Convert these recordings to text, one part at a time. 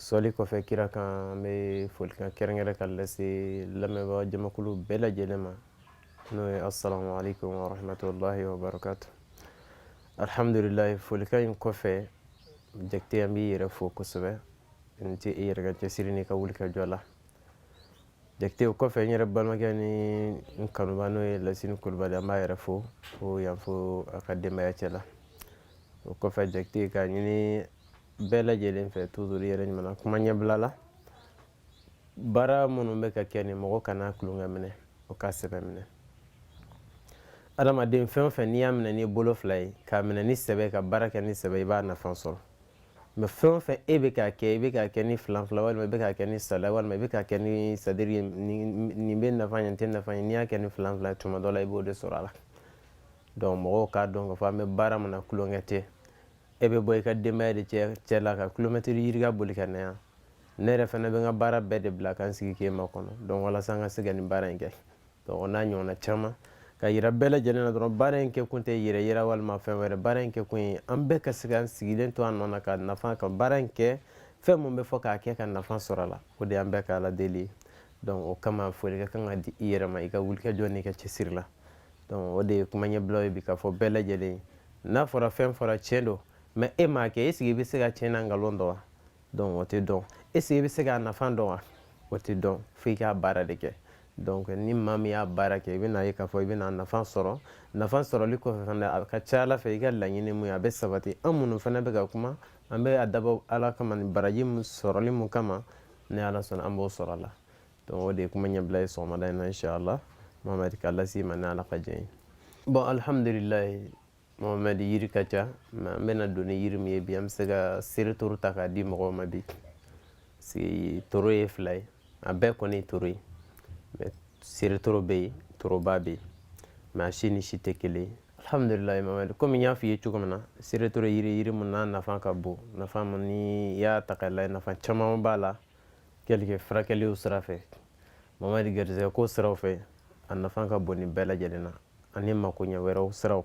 sɔli kɔfɛ kira kan an bɛ folikan kɛrɛnkɛrɛn ka lase lamɛnbaa jamakulu bɛɛ lajɛlen ma n'o ye assalamu alaikum warahmatullahi wabarakatu alhamdulilayi folikan in kɔfɛ jakite an b'i yɛrɛ fo kosɛbɛ n tɛ i yɛrɛ ka cɛsiri n'i ka wulikajɔ la jakite o kɔfɛ n yɛrɛ balimakɛ ni n kanubaa n'o ye lasini kulubali an b'a yɛrɛ fo ko yan fo a ka denbaya cɛ la o kɔfɛ jakite k'a ɲini bɛɛ lajɛlen fɛ toujours yɛrɛ ɲuman kuma ɲɛbila la baara minnu bɛ ka kɛ nin mɔgɔ kana tulonkɛ minɛ o ka sɛbɛ minɛ adamaden fɛn o fɛn n'i y'a minɛ n'i bolo fila ye k'a minɛ ni sɛbɛ ka baara kɛ ni sɛbɛ i b'a nafa sɔrɔ mais fɛn o fɛn e bɛ k'a kɛ i bɛ k'a kɛ ni filanfila walima i bɛ k'a kɛ ni salaya walima i bɛ k'a kɛ ni c'est-à-dire nin bɛ nafa ɲɛ nin tɛ nafa ɲɛ n'i y'a kɛ ni filanfila tuma dɔ la i b'o de sɔrɔ a la donc mɔgɔw k'a dɔn k'a fɔ an bɛ baara min na tulonkɛ tɛ e bɛ bɔ i ka denbaya de cɛ la ka kilomɛtiri yirika boli ka na yan ne yɛrɛ fana bɛ n ka baara bɛɛ de bila ka n sigi k'e makɔnɔ donc walasa n ka se ka nin baara in kɛ donc o n'a ɲɔgɔnna caman ka yira bɛɛ lajɛlen na dɔrɔn baara in kɛ kun tɛ yɛrɛ yira walima fɛn wɛrɛ baara in kɛ kun ye an bɛɛ ka se ka sigilen to an nɔ na ka nafa ka baara in kɛ fɛn mun bɛ fɔ k'a kɛ ka nafa sɔrɔ a la o de y'an bɛɛ ka ala deli ye donc o kama foli ka kan ka di i yɛrɛ ma i ka wulikajɔ n'i ka cɛsiri la donc o de ye kuma ɲɛbilaw ye bi k'a fɔ bɛɛ lajɛlen n'a fɔra fɛn fɔra tiɲɛ don mais e m'a kɛ est-ce que i bɛ se k'a tiɲɛ n'a nkalon dɔn wa donc o tɛ dɔn est-ce que i bɛ se k'a nafa dɔn wa o tɛ dɔn fo i k'a baara de kɛ donc ni maa min y'a baara kɛ i bɛna ye k'a fɔ i bɛna nafa sɔrɔ nafa sɔrɔli kɔfɛ fana a ka ca ala fɛ i ka laɲini mun ye a bɛ sabati an minnu fana bɛ ka kuma an bɛ a dabɔ ala kama ni baraji min sɔrɔli mun kama ni ala sɔnna an b'o sɔrɔ a la donc o de ye kuma ɲɛbila ye sɔgɔmada in na inchallah mohamɛdi k'a las'i ma ni ala ka jɛn ye bon alhamdulilayi mohamɛdi yiri ka ca mais an bɛna don ni yiri min ye bi an bɛ se ka seretoro ta k'a di mɔgɔw ma bi parce que toro ye fila ye a bɛɛ kɔni ye toro ye mais seretoro bɛ yen toroba bɛ yen mais a si ni si tɛ kelen ye alhamdulilayi mamadi komi n y'a f'i ye cogo min na seretoro yiri yiri mun n'a nafa ka bon nafa mun ni i y'a ta k'a lajɛ nafa caman b'a la quelque furakɛliw sira fɛ mamadi garisɛgɛ ko siraw fɛ a nafa ka bon nin bɛɛ lajɛlen na ani makoɲɛ wɛrɛw siraw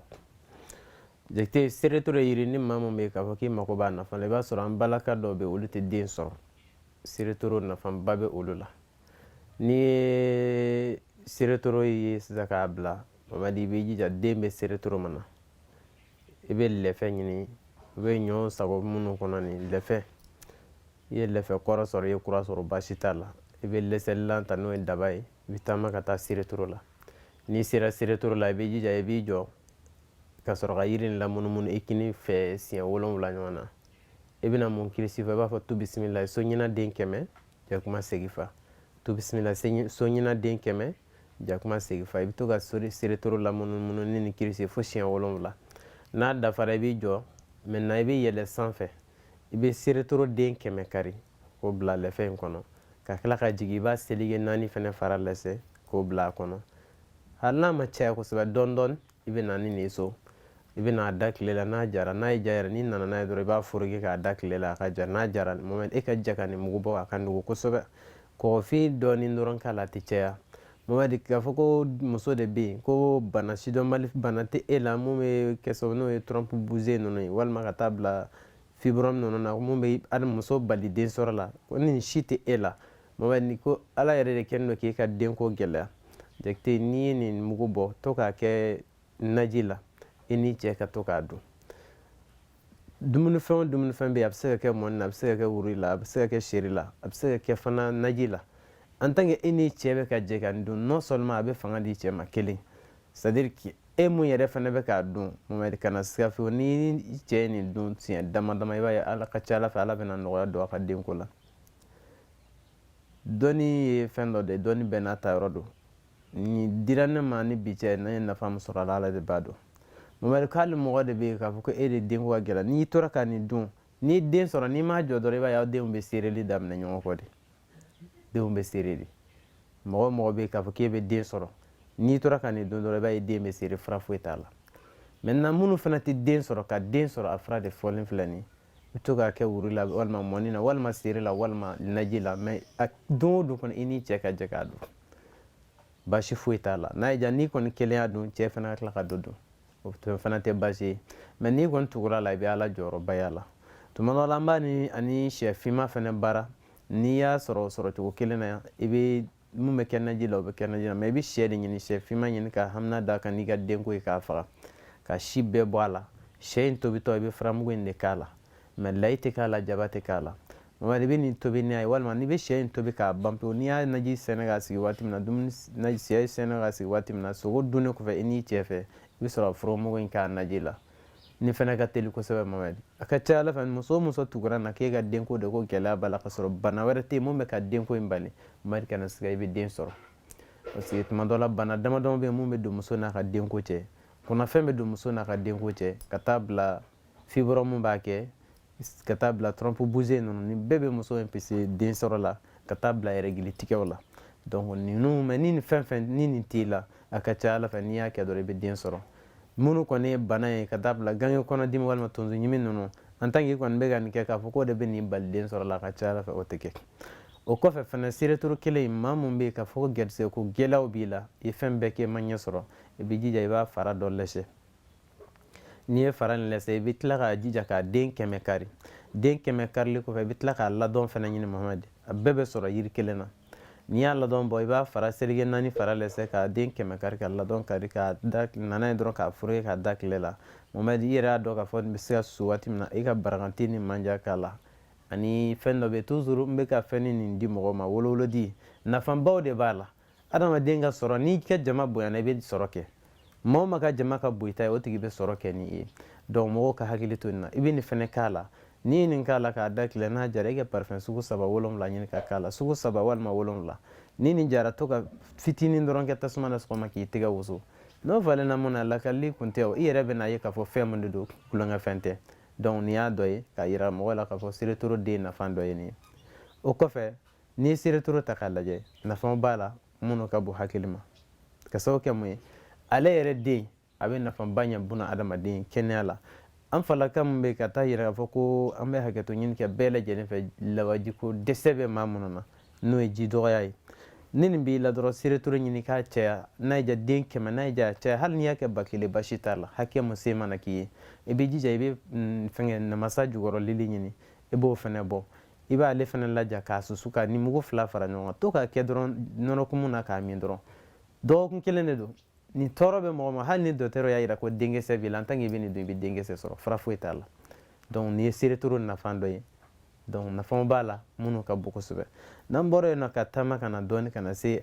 jate seretoro yiri ni maa min bɛ k'a fɔ k'i mako b'a nafa la i b'a sɔrɔ an balaka dɔw bɛ olu tɛ den sɔrɔ seretoro nafaba bɛ olu la n'i ye seretoro ye sisan k'a bila mamadi i b'i jija den bɛ seretoro min na i bɛ lɛfɛ ɲini i bɛ ɲɔ sago minnu kɔnɔ nin lɛfɛ i ye lɛfɛ kɔrɔ sɔrɔ i ye kura sɔrɔ baasi t'a la i bɛ lɛsɛlilan ta n'o ye daba ye i bɛ taama ka taa seretoro la n'i sera seretoro la i b'i jija i b'i jɔ ka sɔrɔ ka yiri in lamunumunu i kini fɛ siɲɛ wolonwula ɲɔgɔn na i bɛna mun kirisi fɔ i b'a fɔ tu bisimila so ɲina den kɛmɛ jakuma segifa tu bisimila so ɲina den kɛmɛ jakuma segifa i bɛ to ka seretoro lamunumunu ni nin kirisi ye fo siɲɛ wolonwula n'a dafara i b'i jɔ maintenant i bɛ yɛlɛ sanfɛ i bɛ seretoro den kɛmɛ kari k'o bila lɛfɛ in kɔnɔ ka tila ka jigin i b'a seleke naani fɛnɛ fara lɛsɛ k'o bila a kɔnɔ hali n'a ma caya kosɛbɛ dɔɔni dɔɔni i bɛ na ni nin ye so i bɛ n'a da tile la n'a jara n'a ye ja yɛrɛ n'i nana n'a ye dɔrɔn i b'a foroki k'a da tile la a ka ja n'a jara mohamed e ka ja ka nin mugu bɔ a ka nugu kosɛbɛ kɔgɔfin dɔɔni dɔrɔn k'a la a tɛ caya mohamed k'a fɔ ko muso de bɛ yen ko bana sidɔnbali bana tɛ e la mun bɛ kɛ sababu n'o ye trompe bouchée ninnu ye walima ka taa bila fibrome ninnu na mun bɛ hali muso bali den sɔrɔ la ko nin si tɛ e la mohamed ni ko ala yɛrɛ de kɛlen don k'e ka denko gɛlɛya jakite n'i ye nin mugu bɔ to k'a kɛ naji la i n'i cɛ ka to k'a dun dumunifɛn o dumunifɛn bɛ yen a bɛ se ka kɛ mɔni na a bɛ se ka kɛ wuri la a bɛ se ka kɛ seri la a bɛ se ka kɛ fana naji la en tant que e n'i cɛ bɛ ka jɛ ka nin dun non seulement a bɛ fanga di cɛ ma kelen c'est à dire que e mun yɛrɛ fana bɛ k'a dun mohamed kana siga fiyewu ni cɛ ye nin dun siɲɛ dama dama i b'a ye a ka ca a la fɛ ala bɛna nɔgɔya don a ka denko la dɔnni ye fɛn dɔ de ye dɔnni bɛɛ n'a ta yɔrɔ don nin dira ne ma ni bi cɛ ne ye nafa min sɔrɔ a la ala de b'a dɔn mohamed k'ale mɔgɔ de bɛ yen k'a fɔ ko e de denko ka gɛlɛn n'i tora ka nin dun n'i den sɔrɔ n'i m'a jɔ dɔrɔn i b'a ye aw denw bɛ sereli daminɛ ɲɔgɔn kɔ de denw bɛ sere de mɔgɔ mɔgɔ bɛ yen k'a fɔ k'e bɛ den sɔrɔ n'i tora ka nin dun dɔrɔn i b'a ye den bɛ sere fura foyi t'a la maintenant minnu fana tɛ den sɔrɔ ka den sɔrɔ a fura de fɔlen filɛ nin ye bɛ to k'a kɛ wuri la walima mɔni na walima seri la walima naji la mais a don o don kɔni i ni cɛ ka jɛ k'a dun baasi foyi t'a la n'a y'i diya n'i kɔni kelen y'a dun cɛ fana ka tila ka dɔ dun o fana tɛ baasi ye mais n'i kɔni tugura a la i bɛ ala jɔyɔrɔba y'a la tuma dɔ la an b'a ni ani sɛ finma fana baara n'i y'a sɔrɔ sɔrɔcogo kelen na yan i bɛ mun bɛ kɛ naji la o bɛ kɛ naji la mais i bɛ sɛ de ɲini sɛ finma ɲini ka hamina d'a kan n'i ka denko ye k'a faga k'a si bɛɛ bɔ a la sɛ in tobitɔ i bɛ furamugu in de k'a la mais layi tɛ k'a la jaba tɛ k'a la mohamed i bɛ nin tobi n'a ye walima n'i bɛ sɛ in tobi k'a ban pewu n'i y'a naji sɛnɛ k'a sigi waati min na dumuni sɛ sɛnɛ k'a sigi waati min na sogo dunnen kɔfɛ i n'i cɛ fɛ i bɛ sɔrɔ furamugu in k'a naji la nin fana ka teli kosɛbɛ mamadi a ka ca ala fɛ muso o muso tugura na k'e ka denko de ko gɛlɛya b'a la ka sɔrɔ bana wɛrɛ tɛ yen mun bɛ ka denko in bali mamadi kana siga i bɛ den sɔrɔ parce que tuma dɔ la bana damadama bɛ yen mun bɛ don muso n'a ka denko cɛ kɔnɔfɛn bɛ don muso n'a ka denko cɛ ka taa bila fibrome b'a kɛ ka taa bila trompe bouchée ninnu ni bɛɛ bɛ muso empêcher den sɔrɔ la ka taa bila règle tigɛw la donc ninnu mais ni nin fɛn fɛn ni nin t'i la a ka ca ala fɛ n'i y'a kɛ dɔrɔn i bɛ den sɔrɔ minnu kɔni ye bana ye ka taa bila gange kɔnɔdimi walima tonso ɲimi ninnu en tant que i kɔni bɛ ka nin kɛ k'a fɔ k'o de bɛ nin bali den sɔrɔ la a ka ca ala fɛ o tɛ kɛ o kɔfɛ fana seretoro kelen in maa min bɛ yen k'a fɔ ko gɛrisigɛ ko gɛlɛyaw b'i la i ye fɛn bɛɛ kɛ i ma ɲɛ sɔrɔ i bɛ jija i b'a fara dɔ lɛsɛ n'i ye fara in lɛsɛ i bɛ tila k'a jija k'a den kɛmɛ kari den kɛmɛ karili kɔfɛ i bɛ tila k'a ladɔn fana ɲini mamadi a bɛɛ bɛ sɔrɔ yiri kelen na n'i y'a ladɔn bɔ i b'a fara seleke naani fara lɛsɛ k'a den kɛmɛ kari ka ladɔn kari ka da nana ye dɔrɔn k'a foroki k'a da tile la mamadi i yɛrɛ y'a dɔn k'a fɔ nin bɛ se ka susu waati min na i ka barakanti ni manja k'a la ani fɛn dɔ bɛ yen toujours n bɛ ka fɛn nin di mɔgɔw ma wolowolodi nafabaw de b'a la adamaden ka sɔrɔ n'i ka jama bonyana i bɛ sɔrɔ kɛ maa o maa ka jama ka bon i ta ye o tigi bɛ sɔrɔ kɛ n'i ye donc mɔgɔw ka hakili to nin na i bɛ nin fɛnɛ k'a la n'i ye nin k'a la k'a da tile n'a jara i ka parfum sugu saba wolonwula ɲini ka k'a la sugu saba walima wolonwula ni nin jara to ka fitinin dɔrɔn kɛ tasuma na sɔgɔma k'i tɛgɛ wusu n'o falenna mun na lakalili kun tɛ o i yɛrɛ bɛna ye k'a fɔ fɛn mun de don tulonkɛfɛn tɛ donc nin y'a dɔ ye k'a yira mɔgɔ la k'a fɔ seretoro den nafa dɔ ye nin ye o kɔfɛ n'i ye seretoro ta k'a lajɛ nafa b'a la minnu ka bon hakili ma ka sababu kɛ mun ye ale yɛrɛ den a bɛ nafaba ɲɛ buna adamaden kɛnɛya la an falaka min bɛ ka taa yira k'a fɔ ko an bɛ hakɛto ɲini kɛ bɛɛ lajɛlen fɛ lawajiko dɛsɛ bɛ maa minnu na n'o ye ji dɔgɔya ye ni nin b'i la dɔrɔn seretoro ɲini k'a caya n'a y'i diya den kɛmɛ n'a y'i diya a caya hali n'i y'a kɛ ba kelen basi t'a la hakɛ mun se mana k'i ye i b'i jija i bɛ mm, fɛngɛ namasa jukɔrɔlili ɲini i b'o fɛnɛ bɔ i b'ale fana laja k'a susu ka nin mugu fila fara ɲɔgɔn kan to k'a kɛ dɔrɔn nɔnɔkumu na k'a min dɔrɔn dɔgɔkun kelen de don nin tɔɔrɔ bɛ mɔgɔ ma hali ni dɔgɔtɔrɔ y'a yira ko denkisɛ t'i la en tant qu'i bɛ nin dun i bɛ denkisɛ sɔrɔ fura foyi t'a la donc nin ye seretoro nafa dɔ ye donc nafaw b'a la minnu ka bon kosɛbɛ n'an bɔra yen nɔ ka taama ka na dɔɔni ka na se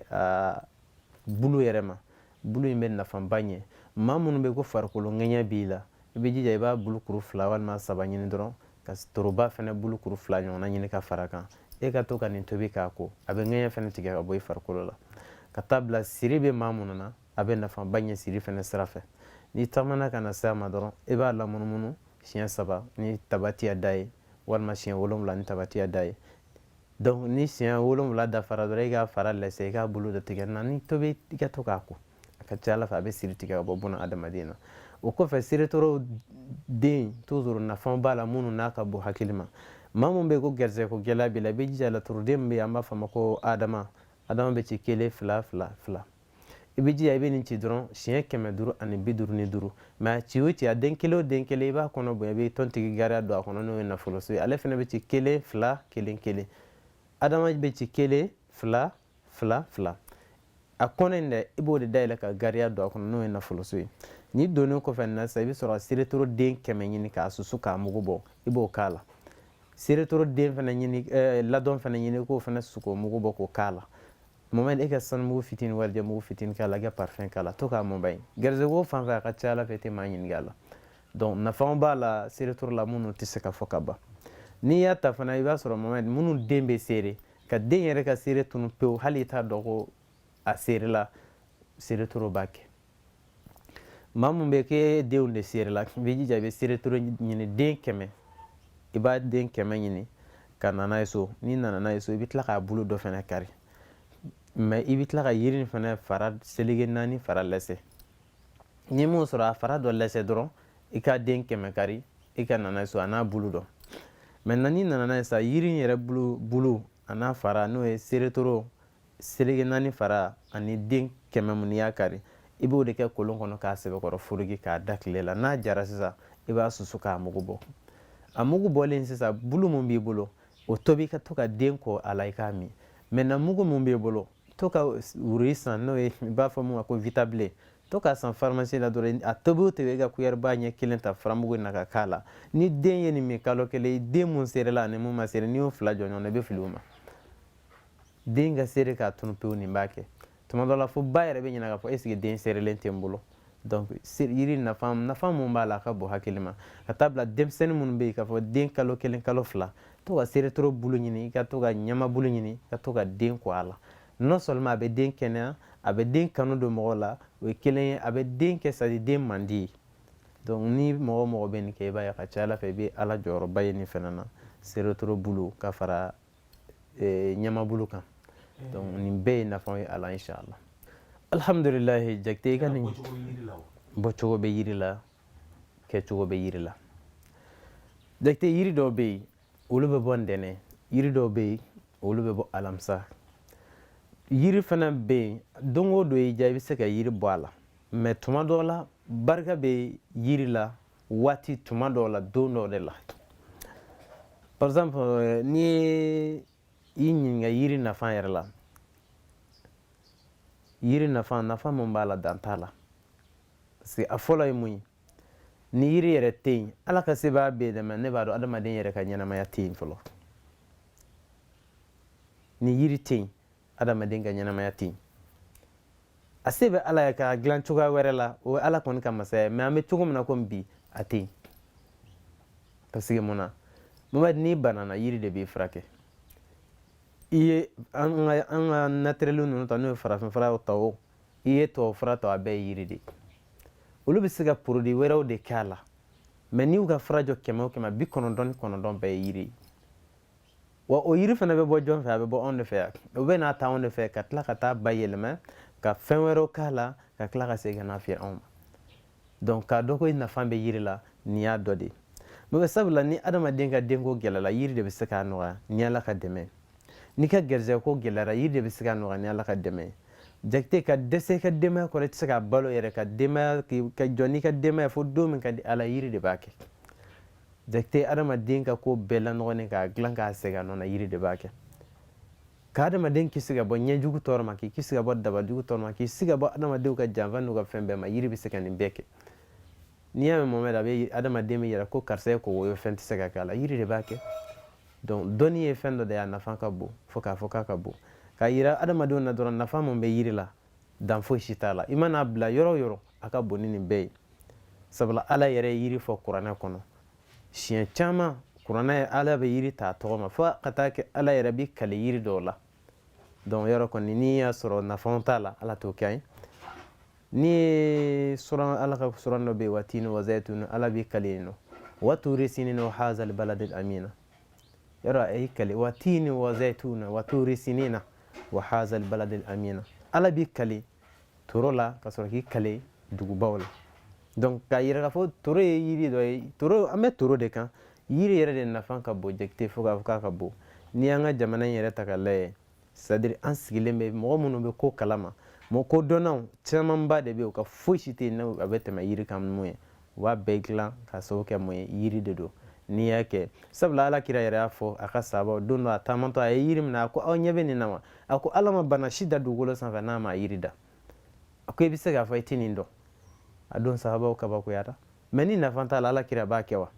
bulu yɛrɛ ma bulu in bɛ nafaba ɲɛ maa minnu bɛ ko farikolo ŋɛɲɛ b'i la i bɛ jija i b'a bulu kuru fila walima saba ɲini dɔrɔn ka toroba fɛnɛ bulu kuru fila ɲɔgɔnna ɲini ka fara kan i ka to ka nin tobi k'a ko a bɛ ŋɛɲɛ fɛnɛ tigɛ ka bɔ i farikolo la ka taa bila siri bɛ maa minnu na a bɛ nafaba ɲɛ siri fɛnɛ sira fɛ n'i taamana ka na se a ma dɔrɔn i b'a lamunumunu siɲɛ saba ni tabatiyada ye walima siɲɛ wolonwula ni tabatiyada ye donc ni siɲɛ wolonwula dafara dɔrɔn i k'a fara lɛsɛ i k'a bolo dɔ tigɛ na ni tobi i ka to k'a ko a ka ca ala fɛ a bɛ siri tigɛ ka bɔ buna adamaden na o kɔfɛ seretoro den toujours nafa b'a la minnu n'a ka bon hakili ma maa min bɛ ko garisɛgɛ ko gɛlɛya b'i la i bɛ jija laturuden min bɛ yen an b'a fɔ a ma ko adama adama bɛ ci kelen fila fila fila i bɛ jija i bɛ nin ci dɔrɔn siɲɛ kɛmɛ duuru ani bi duuru ni duuru mais a ci o ci a den kelen o den kelen i b'a kɔnɔ bonya i bɛ tɔntigi gariya don a kɔnɔ n'o ye nafoloso ye ale fana bɛ ci kelen fila kelen kelen adama bɛ ci kelen fila fila fila a kɔnɔ in dɛ i b'o de dayɛlɛ ka gariya don a kɔnɔ n'o ye nafoloso ye ni donnen kɔfɛ na sisan i bɛ sɔrɔ ka seretoro den kɛmɛ ɲini k'a susu k'a mugu bɔ i b'o k'a la seretoro den fana ɲini eh, ladɔn fana ɲini k'o fana susu k'o mugu bɔ k'o k'a la moment e ka sanumugu fitini walijɛ mugu fitini k'a la i ka parfum k'a la to k'a mɔba ye garisɛgɛ ko fan fɛ a ka ca ala fɛ i tɛ maa ɲininka a la donc nafa b'a la seretoro la minnu tɛ se ka fɔ ka ban n'i y'a ta fana i b'a sɔrɔ moment minnu den bɛ seere ka den yɛrɛ ka seere tunu pewu hali i t'a dɔn ko a seerela seretoro b'a kɛ maa mun bɛ k'e denw de seerela i bɛ jija i bɛ seretoro ɲini den kɛmɛ i b'a den kɛmɛ ɲini ka na n'a ye so n'i nana n'a ye so i bɛ tila k'a bulu dɔ fana kari mais i bɛ tila ka yiri in fana fara seleke naani fara lɛsɛ n'i m'o sɔrɔ a fara dɔ lɛsɛ dɔrɔn i ka den kɛmɛ kari i ka na n'a so a n'a bulu dɔ maintenant n'i nana n'a ye sa yiri in yɛrɛ bulu a n'a fara n'o ye seretoro seleke naani fara ani den kɛmɛ mun n'i y'a kari i b'o de kɛ kolon kɔnɔ k'a sɛbɛkɔrɔ foroki k'a da tile la n'a jara sisan i b'a susu k'a mugu bɔ a mugu bɔlen sisan bulu mun b'i bolo o tobi ka to ka den ko a la i k'a min maintenant mugu mun b'i bolo to ka wuri san n'o ye i b'a fɔ mun ma ko vitabile to ka san farimasi la dɔrɔn a tobi o tobi i ka kuyɛriba ɲɛ kelen ta furamugu in na ka k'a la ni den ye nin min kalo kelen den mun serela ani mun ma sere n'i y'o fila jɔ ɲɔgɔn na i bɛ fili o ma den ka sere k'a tunu pewu nin b'a kɛ tuma dɔ la fo ba yɛrɛ bɛ ɲininka k'a fɔ est-ce que den serelen tɛ n bolo donc yiri nafa mun b'a la a ka bon hakili ma ka taa bila denmisɛnnin minnu bɛ yen k'a fɔ den kalo kelen kalo fila to ka seretoro bulu ɲini i ka to ka ɲama bulu ɲini i ka to ka den ko a la non seulement a bɛ den kɛnɛya a bɛ den kanu don mɔgɔ la o ye kelen ye a bɛ den kɛ c'est-à-dire den man di ye donc ni mɔgɔ o mɔgɔ bɛ nin kɛ i b'a ye a ka ca ala fɛ i bɛ ala jɔyɔrɔba ye nin fana na seretoro bulu ka fara eh, ɲama bulu kan donc nin bɛɛ ye nafaw ye a la inshallah alhamdulilahi jakite i ka nin bɔcogo bɛ yiri la kɛcogo bɛ yiri la jakite yiri dɔw bɛ yen olu bɛ bɔ ntɛnɛn yiri dɔw bɛ yen olu bɛ bɔ alamisa yiri fana bɛ yen don o don i diya i bɛ se ka yiri bɔ a la mais tuma dɔw la barika bɛ yiri la waati tuma dɔw la don dɔw de la par exemple n'i ye I ɲininka yiri nafa yɛrɛ la yiri nafa nafa min b'a la dan t'a la parce que a fɔlɔ ye mun ye ni yiri yɛrɛ tɛ yen ala ka sebaaya bɛ yen dɛ mɛ ne b'a dɔn adamaden yɛrɛ ka ɲɛnamaya tɛ yen fɔlɔ ni yiri tɛ yen adamaden ka ɲɛnamaya tɛ yen a se bɛ ala ye k'a dilan cogoya wɛrɛ la o ye ala kɔni ka masaya mɛ an bɛ cogo min na komi bi a tɛ yen parce que mun na mamadi n'i banana yiri de b'i furakɛ i ye an ka an ka natirɛli ninnu ta n'o ye farafinfura ta o i ye tubabufura ta a bɛɛ ye yiri de ye olu bɛ se ka porodi wɛrɛw de kɛ a la mɛ n'i y'u ka fura jɔ kɛmɛ o kɛmɛ bi kɔnɔntɔn ni kɔnɔntɔn bɛɛ ye yiri ye wa o yiri fana bɛ bɔ jɔn fɛ a bɛ bɔ anw de fɛ yan o bɛ n'a ta anw de fɛ ka tila ka t'a bayɛlɛma ka fɛn wɛrɛw k'a la ka tila ka segin ka n'a feere anw ma donc k'a dɔn ko i nafa bɛ yiri la nin y'a dɔ de ye n'o bɛ sabula ni adamaden ka denko gɛlɛla yiri de bɛ se k'a nɔgɔya ni ala ka dɛmɛ n'i ka garijɛgɛ ko gɛlɛyara yiri de bɛ se k'a nɔgɔya ni ala ka dɛmɛ jakite ka dɛsɛ i ka denbaya kɔrɔ i tɛ se k'a balo yɛrɛ ka denbaya ka jɔ n'i ka denbaya fo don min ka di ala yiri de b'a kɛ jakite adamaden ka ko bɛɛ lanɔgɔlen k'a dilan k'a segin a nɔ na yiri de b'a kɛ ka adamaden kisi ka bɔ ɲɛjugu tɔɔrɔ ma k'i kisi ka bɔ dabajugu tɔɔrɔ ma k'i kisi ka bɔ adamadenw ka janfa n'u ka fɛn bɛɛ ma yiri bɛ se ka nin bɛɛ kɛ n'i y'a mɛn mohamɛdi a bɛ adamaden bɛ yɛrɛ ko karisa ye kogo ye fɛn tɛ se ka k'a la yiri de b'a kɛ donc dɔnni ye fɛn dɔ de ye a nafa ka bon fo k'a fɔ k'a ka bon k'a yira adamadenw na dɔrɔn nafa mun bɛ yiri la dan foyi si t'a la i man'a bila yɔrɔ o yɔrɔ a ka bon ni nin bɛɛ ye sabula ala yɛrɛ ye yiri fɔ kuranɛ kɔnɔ siɲɛ caman kuranɛ ye ala bɛ yiri ta a tɔgɔ ma fo ka taa kɛ ala yɛrɛ b'i kali yiri dɔw la donc yɔrɔ kɔni n'i y'a sɔrɔ nafaw t'a la ala t'o kɛ an ye n'i ye sɔrɔ ala ka suran dɔ bɛ yen wa tini wa zayituni ala b'i kali yen nɔ wa tuuri sinina wa hazali baladil amina yɔrɔ a y'i kali wa tiini wa zɛtuuna wa tuuri sinina wa hazal baladil amina ala b'i kali toro la ka sɔrɔ k'i kali dugubaw la donc k'a yira k'a fɔ toro ye yiri dɔ ye toro an bɛ toro de kan yiri yɛrɛ de nafa ka bon jakite fo k'a fɔ k'a ka bon n'i y'an ka jamana in yɛrɛ ta ka lajɛ c'est à dire an sigilen bɛ mɔgɔ minnu bɛ ko kalama mɔgɔ kodɔnnaw camanba de bɛ yen u ka foyi si tɛ yen n'a bɛ tɛmɛ yiri kan mun ye u b'a bɛɛ dilan ka sababu kɛ mun ye yiri de don n'i y'a kɛ sabula ala kira yɛrɛ y'a fɔ a ka sahabaw don dɔ a taamatɔ a ye yiri minɛ a ko aw ɲɛ bɛ nin na wa a ko ala ma bana si da dugukolo sanfɛ n'a ma yiri da a ko i bɛ se k'a fɔ i tɛ nin dɔn a don sahabaw kabakoyara mais ni nafa t'a la ala kira b'a kɛ wa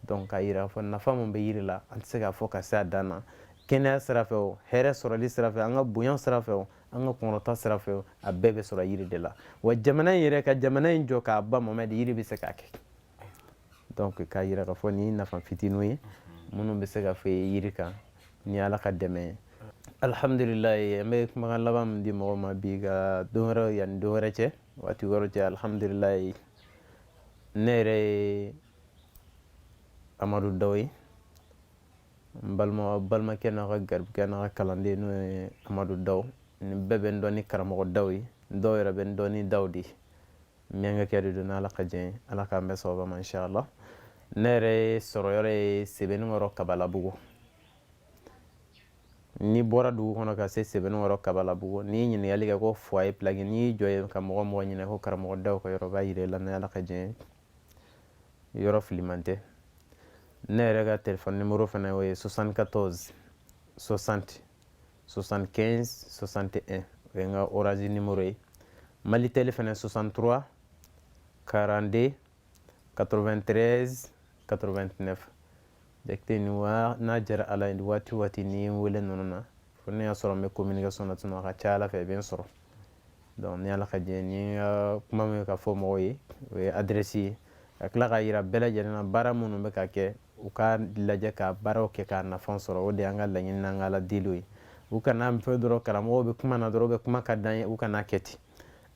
donc k'a yira k'a fɔ nafa min bɛ yiri la an tɛ se k'a fɔ ka se a dan na kɛnɛya sira fɛ o hɛrɛ sɔrɔli sira fɛ an ka bonya sira fɛ o an ka kɔnɔta sira fɛ o a bɛɛ bɛ sɔrɔ yiri de la wa jamana in yɛrɛ ka jamana in jɔ k'a ban mohamɛdi yiri bɛ se k'a kɛ donc k'a yira k'a fɔ nin ye nafa fitininw ye minnu bɛ se ka fɔ yiri kan ni ala ka dɛmɛ ye alhamdulilayi an bɛ kumakan laban min di mɔgɔw ma bi ka don wɛrɛ yanni don wɛrɛ cɛ waati wɛrɛ cɛ alhamdulilayi ne yɛrɛ ye amadu daw ye n balimakɛ n'a ka garibukɛ n'a ka kalanden n'o ye amadu daw ni bɛɛ bɛ n dɔn ni karamɔgɔ daw ye dɔw yɛrɛ bɛ n dɔn ni daw de ye minyankakɛ de don n'ala ka jɛn ye ala k'an bɛɛ sababa ma inshallah ne yɛrɛ sɔrɔ yɔrɔ ye sebenikɔrɔ kabalabugu n'i bɔra dugu kɔnɔ ka se sebenikɔrɔ kabalabugu n'i ye ɲininkali kɛ ko foyer pilaki n'i y'i jɔ ye ka mɔgɔ o mɔgɔ ɲininka ko karamɔgɔ daw ka yɔrɔ b'a yira i la ni ala ka diɲɛ ye yɔrɔ filiman tɛ ne yɛrɛ ka telefɔni nimoro fana o ye 74 60 75 61 o ye n ka orange nimoro ye malitel fana 63 42 93 89 jakite ni wa n'a diyara ala ye waati o waati n'i ye n wele ninnu na fo n'i y'a sɔrɔ n bɛ communication na tuma a ka ca ala fɛ i bɛ n sɔrɔ donc ni ala ka jɛn ye n ka kuma min ka fɔ mɔgɔw ye o ye adresse ye ka tila k'a yira bɛɛ lajɛlen na baara minnu bɛ ka kɛ u k'a lajɛ ka baaraw kɛ k'a nafa sɔrɔ o de y'an ka laɲini n'an ka ala deliw ye u kan'a fɔ dɔrɔn karamɔgɔw bɛ kuma na dɔrɔn bɛ kuma ka d'an ye u kana kɛ ten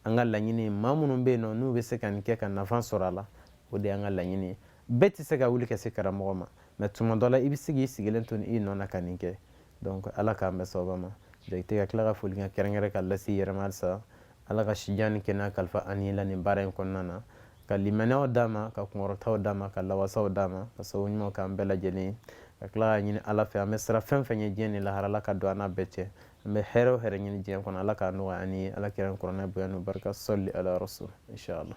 an ka laɲini maa minnu bɛ yen nɔ n'u bɛ se ka nin kɛ ka nafa sɔrɔ a la o de y'an ka laɲini ye bɛɛ tɛ se ka wuli ka se karamɔgɔ ma mais tuma dɔ la i bɛ se k'i sigilen to i nɔ na ka nin kɛ donc ala k'an bɛɛ sababa ma jakite ka tila ka foli ka kɛrɛnkɛrɛn k'a lase i yɛrɛ ma halisa ala ka si jan ni kɛnɛya kalifa an n'i la nin baara in kɔnɔna na ka limaniyaw d'a ma ka kunkɔrɔtaw d'a ma ka lawasaw d'a ma ka sababu ɲumanw k'an bɛɛ lajɛlen ye ka tila ka ɲini ala fɛ an bɛ siran fɛn o fɛn ɲɛ diɲɛ ni lahara ala ka don an n'a bɛɛ cɛ an bɛ hɛrɛ o hɛrɛ ɲini diɲɛ kɔnɔ ala k'a nɔgɔya an ye ala kira ni kuranɛ bonya n'o barika salli ala rasul inshallah